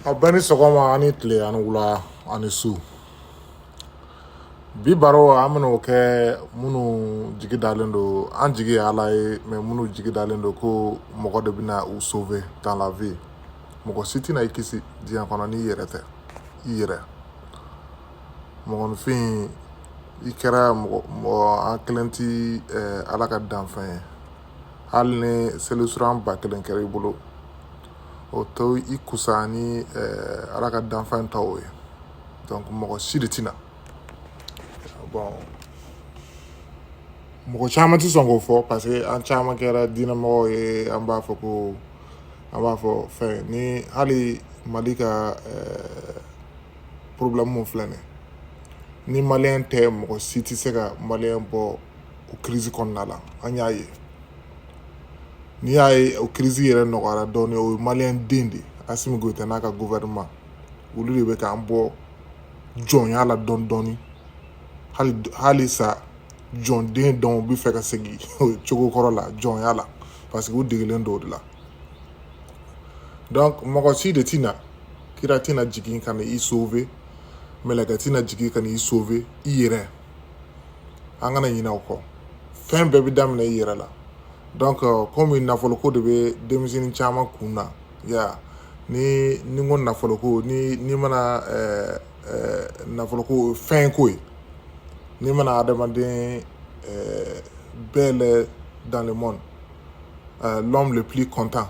aw bɛɛ ni sɔgɔma ani tile ani wula ani su bi baro an bɛna o kɛ minnu jigi dalen don an jigi ye ala ye mais minnu jigi dalen don ko mɔgɔ de bɛna u sauver dans la vie mɔgɔ si tɛna i kisi diɲɛ kɔnɔ n'i yɛrɛ tɛ i yɛrɛ mɔgɔninfin i kɛra mɔgɔ mɔgɔ an kelen ti eh, ala ka danfɛn ye hali ni seli suran ba kelen kɛra i bolo o to i kusa ni eh, ala ka danfɛn tɔw ye donc mɔgɔ si de tɛna bon mɔgɔ caman tɛ sɔn k'o fɔ parce que an caman kɛra diinɛmɔgɔw ye an b'a fɔ ko an b'a fɔ fɛn ni hali mali ka eh, problème mun filɛ nin ni maliyɛn tɛ mɔgɔ si tɛ se ka maliyɛn bɔ o crise kɔnɔna la an y'a ye n'i y'a ye o kirisi yɛrɛ nɔgɔyara dɔɔni o ye maliyɛn den de ye asimi goyita n'a ka gofɛrɛnaman olu de bɛ k'an bɔ jɔnya la dɔɔni dɔɔni hali hali sa jɔnden dɔw bɛ fɛ ka segin cogo kɔrɔ la jɔnya la parce que u degelen don o de la donc mɔgɔ si de tɛna kira tɛna jigin ka na i sauver mɛlɛkɛ tɛna jigin ka na i sauver i yɛrɛ an kana ɲinɛ o kɔ fɛn bɛɛ bɛ daminɛ i yɛrɛ la donc euh, komi nafoloko de bɛ denmisɛnnin caman kun na ya ni ni ko nafoloko ni ni mana ɛɛ ɛɛ nafoloko fɛn ko ye ni mana adamaden ɛɛ bɛɛ lajɛ dans le monde euh, l'homme le plus content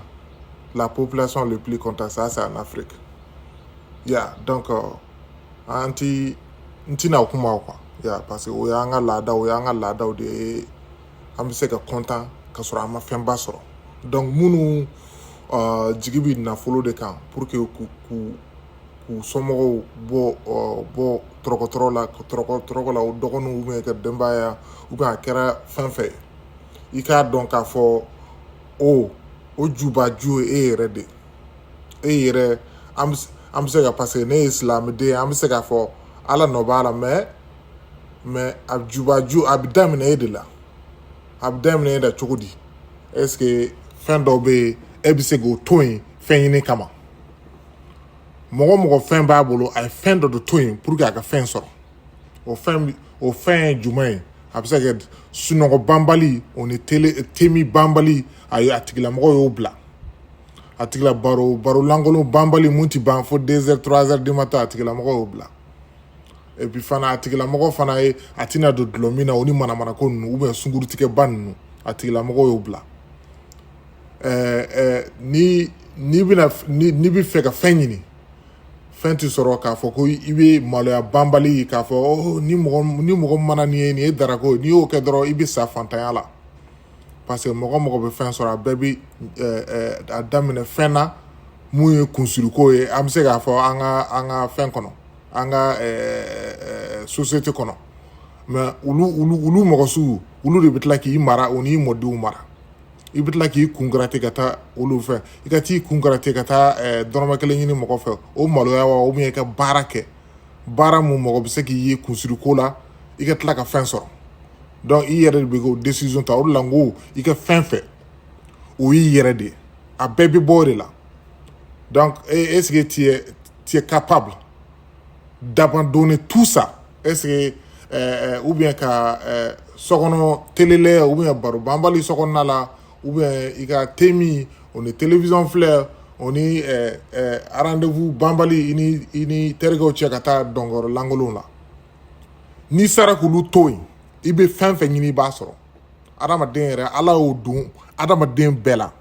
la population le plus content ça c'est en Afrique ya donc euh, an ti n tɛna kuma o kan ya parce que o y'an ka laada o y'an ka laadaw de ye an bɛ se ka content ka sɔrɔ an ma fɛnba sɔrɔ donc minnu uh, jigi bɛ nafolo de kan pour que k'u k'u k'u somɔgɔw bɔ uh, bɔ tɔɔrɔko tɔɔrɔ la tɔɔrɔko tɔɔrɔko la u dɔgɔninw ou bien ka denbaya ou bien a kɛra fɛn fɛn ye i k'a dɔn k'a fɔ o o jubaju ye e yɛrɛ de ye e yɛrɛ an bɛ an bɛ se ka parce que ne ye silamɛden an bɛ se k'a fɔ ala nɔ b'a la mais mais a jubaju a bɛ daminɛ e de la a bɛ daminɛ e la cogo di est-ce que fɛn dɔw bɛ yen e bɛ se k'o to yen fɛn ɲini kama mɔgɔ o mɔgɔ fɛn b'a bolo a ye fɛn dɔ de to yen pour que a ka fɛn sɔrɔ o fɛn o fɛn ye jumɛn ye a bɛ se ka kɛ sunɔgɔ banbali o ni tele te min banbali a ye a tigilamɔgɔ y'o bila a tigila baro baro lankolon banbali mun ti ban fo deux heures trois heures du matin a tigilamɔgɔ y'o bila et puis fana a tigilamɔgɔ fana ye a tɛna don dulɔ min na o ni manamanako ninnu ou bien sunkurutigɛba ninnu a tigilamɔgɔ y'o bila ɛɛ ɛɛ ni n'i bɛna ni n'i bɛ fɛ ka fɛn ɲini fɛn tɛ sɔrɔ k'a fɔ ko i bɛ maloya banbali k'a fɔ oh, ni mɔgɔ ni mɔgɔ mana nin ye nin ye darako ye n'i y'o kɛ dɔrɔn i bɛ sa fantanya la parce que mɔgɔ mɔgɔ bɛ fɛn sɔrɔ a bɛɛ bɛ eh, eh, a daminɛ fɛn na mun ye kunsiriko ye an bɛ se k'a fɔ an ka an ka fɛn kɔnɔ an ka eh, société kɔnɔ mais olu olu olu mɔgɔ sugu olu de bɛ tila k'i mara o n'i mɔdenw mara i bɛ tila k'i kunkarate ka taa olu fɛ i ka t'i kunkarate ka taa dɔrɔmɛ kelen ɲini mɔgɔ fɛ o maloya wa ou bien i ka baara kɛ baara mun mɔgɔ bɛ se k'i ye kunsiriko la i ka tila ka fɛn sɔrɔ donc i yɛrɛ de bɛ k'o decision ta o de la n ko i ka fɛn fɛ o y'i yɛrɛ de ye a bɛɛ bɛ bɔ o de la donc est ce que tu es, tu es capable d'abandonner tout ça est ce que euh, ou bien ka euh, sokɔnɔ télé lajɛ ou bien baro banbali sokɔnɔna la ou bien i ka temi o ni télévision filɛ o ni euh, euh, rendez-vous banbali i ni i ni terikɛw cɛ ka taa dɔnkɔrɔ lankolon la n'i sera k'olu to yen i bɛ fɛn fɛn ɲini i b'a sɔrɔ adamaden yɛrɛ ala y'o don adamaden bɛɛ la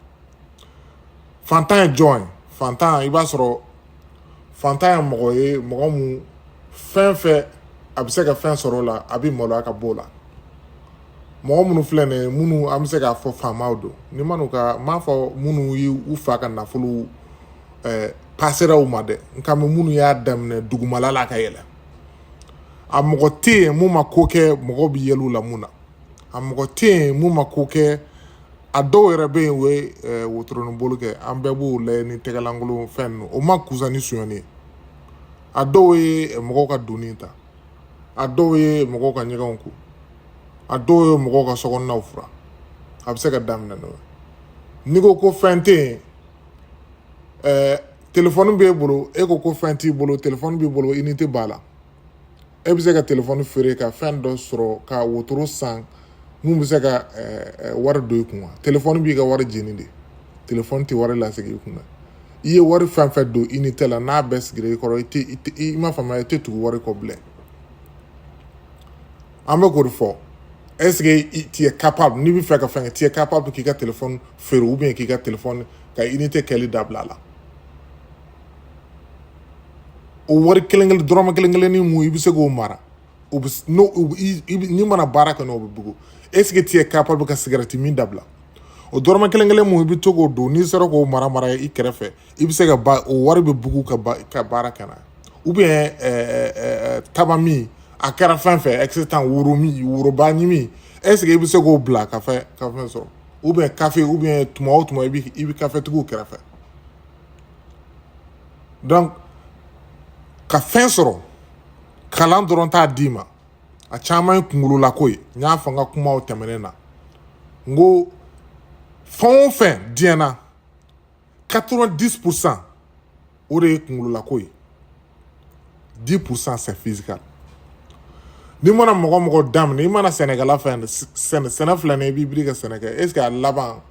fantan ye jɔn ye fantan i b'a sɔrɔ fantan ye mɔgɔ ye mɔgɔ mun fɛn fɛn a bɛ se ka fɛn sɔrɔ o la a bɛ maloya ka b'o la mɔgɔ minnu filɛ nin ye minnu an bɛ se k'a fɔ faamaw don ni ma n'u ka n m'a fɔ minnu ye u fa ka nafolo ɛɛ pasera u ma dɛ n kan bɛ minnu y'a daminɛ dugumala la ka yɛlɛ a mɔgɔ tɛ yen mun ma ko kɛ mɔgɔ bɛ yɛlɛ u la mun na a mɔgɔ tɛ yen mun ma ko kɛ a dɔw yɛrɛ bɛ yen u ye eh, wotoronin boli kɛ an bɛɛ b'o layɛ ni tɛgɛlankolon fɛn ninnu o ma kusa ni sonyɛni ye a dɔw ye eh, mɔgɔw ka donni ta a dɔw ye mɔgɔw ka ɲɛgɛnw ko a dɔw ye mɔgɔw ka sokɔnɔnaw fura a bɛ se ka daminɛ n'o ye n'i ko ko fɛn tɛ yen eh, téléphone b'e bolo e ko ko fɛn t'i bolo téléphone b'i bolo unité b'a la e bɛ se ka téléphone feere ka fɛn dɔ sɔrɔ ka wotoro san mun bɛ se ka wari don i kun wa téléphone b'i ka wari jeni de téléphone tɛ wari lasegin i kun na i ye wari fɛn fɛn don unité la n'a bɛɛ sigira i kɔrɔ i tɛ i ma faamuya i tɛ tugu wari kɔ bilen an bɛ k'o de fɔ est ce que tu es capable n'i bɛ fɛ ka fɛn kɛ tu es capable k'i ka téléphone feere ou bien k'i ka téléphone ka inite kɛli dabila la o wari kelen kelen dɔrɔmɛ kelen kelen ni mun i bɛ se k'o mara o bɛ n'o n'i mana baara kɛ n'o bɛ bugu eseke tu es capable ka sigarɛti min dabila o dɔrɔmɛ kelen kelen mun i bɛ to k'o don n'i sera k'o mara mara i kɛrɛfɛ i bɛ se ka ba o wari bɛ bugu ka ba ka baara kɛ n'a ye ou bien ɛɛ eh, eh, eh, taba min a kɛra fɛn fɛn ɛkisitan woro min woroba ɲimi eseke i bɛ se k'o bila ka fɛn ka fɛn sɔrɔ. ou bien kafe ou bien tuma o tuma i bɛ i bɛ kafetigiw kɛrɛfɛ donc ka fɛn sɔrɔ kalan dɔrɔn t'a d'i ma a caman ye kunkololako ye n y'a fɔ n ka kumaw tɛmɛnen na n ko fɛn o fɛn diɲɛ na 90 pour cent o de ye kunkololako ye 10 pour cent c'est physical n'i mana mɔgɔ mɔgɔ daminɛ i mana sɛnɛkɛla fɛn sɛnɛ sɛnɛ filɛ nin ye i b'i biri ka sɛnɛ kɛ est ce que a laban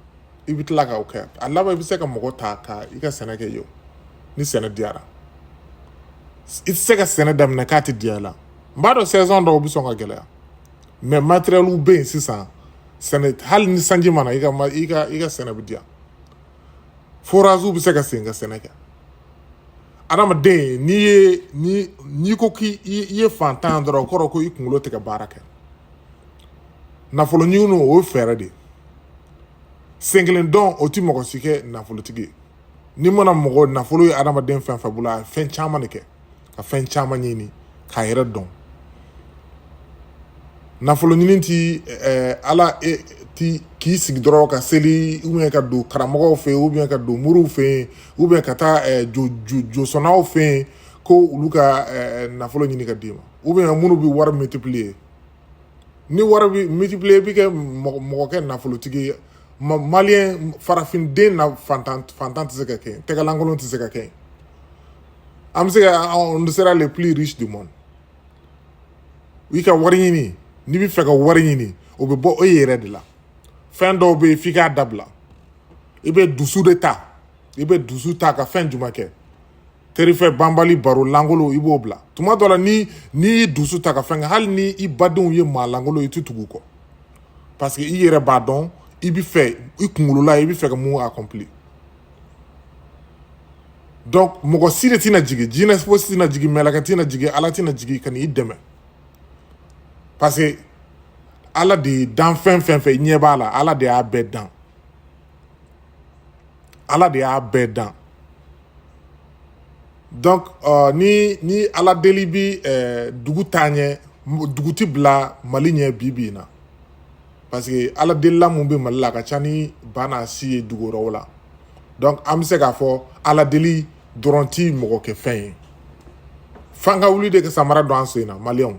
i bɛ tila k'o kɛ a laban i bɛ se ka mɔgɔ ta ka i ka sɛnɛ kɛ yen ni sɛnɛ diyara i tɛ se ka sɛnɛ daminɛ k'a tɛ diya i la n b'a dɔn saison dɔw bɛ sɔn ka gɛlɛya mais materiyɛliw bɛ yen sisan sɛnɛ hali ni sanji ma na i ka i ka i ka sɛnɛ bɛ diya foraziw bɛ se ka sen ka sɛnɛ kɛ adamaden n'i ye ni n'i ko k'i i ye fantan dɔrɔn o kɔrɔ ko i kunkolo tɛ ka baara kɛ nafolo ɲini o ye fɛɛrɛ de ye sen kelen dɔn o tɛ mɔgɔ si kɛ nafolotigi ye n'i mana mɔgɔ nafolo ye adamaden fɛn fɛn bolo a ye fɛn caman de kɛ ka fɛn caman ɲini k'a yɛrɛ dɔn nafolo ɲini ti ɛɛ ala e ti k'i sigi dɔrɔn ka seli ubiyɛn ka don karamɔgɔw fɛ yen ubiyɛn ka don moriw fɛ yen ubiyɛn ka taa ɛɛ jo jo josɔnnaw fɛ yen ko olu ka ɛɛ nafolo ɲini ka d'i ma ubiyɛn minnu bɛ wari multiplier ni wari bɛ multiplier i bɛ kɛ mɔgɔ mɔgɔ kɛ nafolotigi ye ma maliyɛn farafin den na fantan fantan tɛ se ka kɛ yen tɛgɛlankolon tɛ se ka kɛ yen an bɛ se ka on sera les plus riches du monde i ka wari ɲini n'i bɛ fɛ ka wari ɲini o bɛ bɔ e yɛrɛ de la fɛn dɔw bɛ yen f'i k'a dabila i bɛ dusu de ta i bɛ dusu ta ka fɛn jumɛn kɛ terifɛ banbali baro lankolon i b'o bila tuma dɔ la ni n'i y'i dusu ta ka fɛn kɛ hali ni i badenw ye maa lankolon i tɛ tugu u kɔ parce que i yɛrɛ b'a dɔn i bɛ fɛ i kunkolo la i bɛ fɛ ka mun accompli donc mɔgɔ si de tɛna jigin jinɛ fosi tɛna jigin mɛlɛkɛ tɛna jigin ala tɛna jigin ka n'i dɛmɛ parce que ala de ye danfɛn fɛn fɛn i ɲɛ b'a la ala de y'a bɛɛ dan ala de y'a bɛɛ dan donc uh, ni ni ala deli bi uh, dugu taa ɲɛ dugu ti bila mali ɲɛ bi bi in na parce que ala delila mun bɛ mali la a ka ca ni ba n'a si ye dugu wɛrɛw la donc an bɛ se k'a fɔ ala deli dɔrɔn ti mɔgɔ kɛ fɛn ye f'an ka wuli de ka samara don an sen na maliyɛnw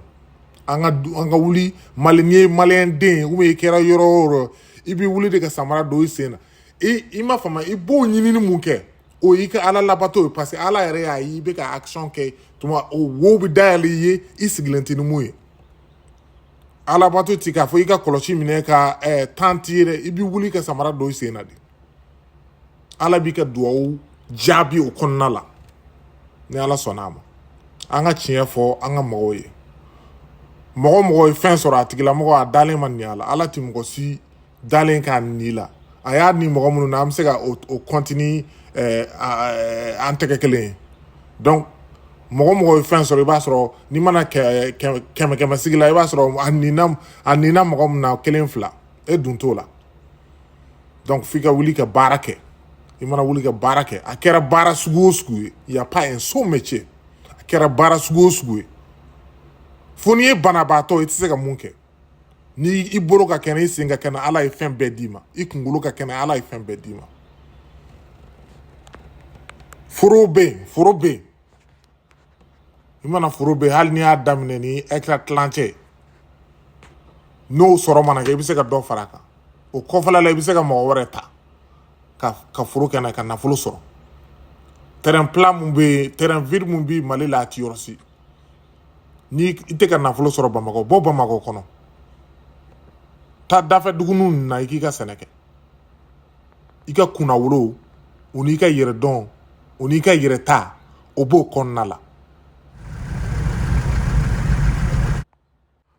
an ka an ka wuli mali n'i ye maliyɛn den ou bien i kɛra yɔrɔ o yɔrɔ i bɛ wuli de ka samara don i sen na i i ma fama i b'o ɲinini mun kɛ o y'i ka ala labato ye parce que ala yɛrɛ y'a ye i bɛ ka action kɛ tuma o wo bɛ dayɛlɛ i ye i sigilen tɛ ni mun ye alabato ti k'a fɔ i ka kɔlɔsi minɛ ka eh, tan ti yɛrɛ i bɛ wuli ka samara don i sen na de ala b'i ka duwawu jaabi o kɔnɔna la ni ala sɔnna a ma an ka tiɲɛ fɔ an ka mɔgɔw ye mɔgɔ o mɔgɔ ye fɛn sɔrɔ a tigilamɔgɔ a dalen ma ni a la ala tɛ mɔgɔ si dalen k'a ni la a y'a ni mɔgɔ minnu na an bɛ se ka o kɔnti ni eh, an tɛgɛ kelen ye donc mɔgɔ o mɔgɔ ye fɛn sɔrɔ i b'a sɔrɔ n'i mana kɛmɛ kɛmɛ sigi la i b'a sɔrɔ a nina a nina mɔgɔ min na kelen fila e dun t'o la donc f'i ka wuli ka baara kɛ i mana wuli ka baara kɛ a kɛra baara sugu o sugu ye y a pas un sot métier a kɛra baara sugu o sugu ye fo n'i ye banabaatɔ i tɛ se ka mun kɛ ni i bolo ka kɛnɛ i sen ka kɛnɛ ala ye fɛn bɛɛ d'i ma i kunkolo ka kɛnɛ ala ye fɛn bɛɛ d'i ma foro bɛ yen foro bɛ yen i mana foro bɛ yen hali n'i y'a daminɛ ni hectare tilancɛ n'o sɔrɔ mana kɛ i bɛ se ka dɔ fara a kan o kɔfɛla la i bɛ se ka mɔgɔ wɛrɛ ta ka ka foro kɛnɛ ka nafolo sɔrɔ terrain plat mun bɛ yen terrain vide mun bɛ mali la a ti yɔrɔ si ni i tɛ ka nafolo sɔrɔ bamakɔ bɔ bamakɔ kɔnɔ taa dafɛ duguninw na i k'i ka sɛnɛ kɛ i ka kunnawolo o n'i ka yɛrɛdɔn o n'i ka yɛrɛta o b'o kɔnɔna la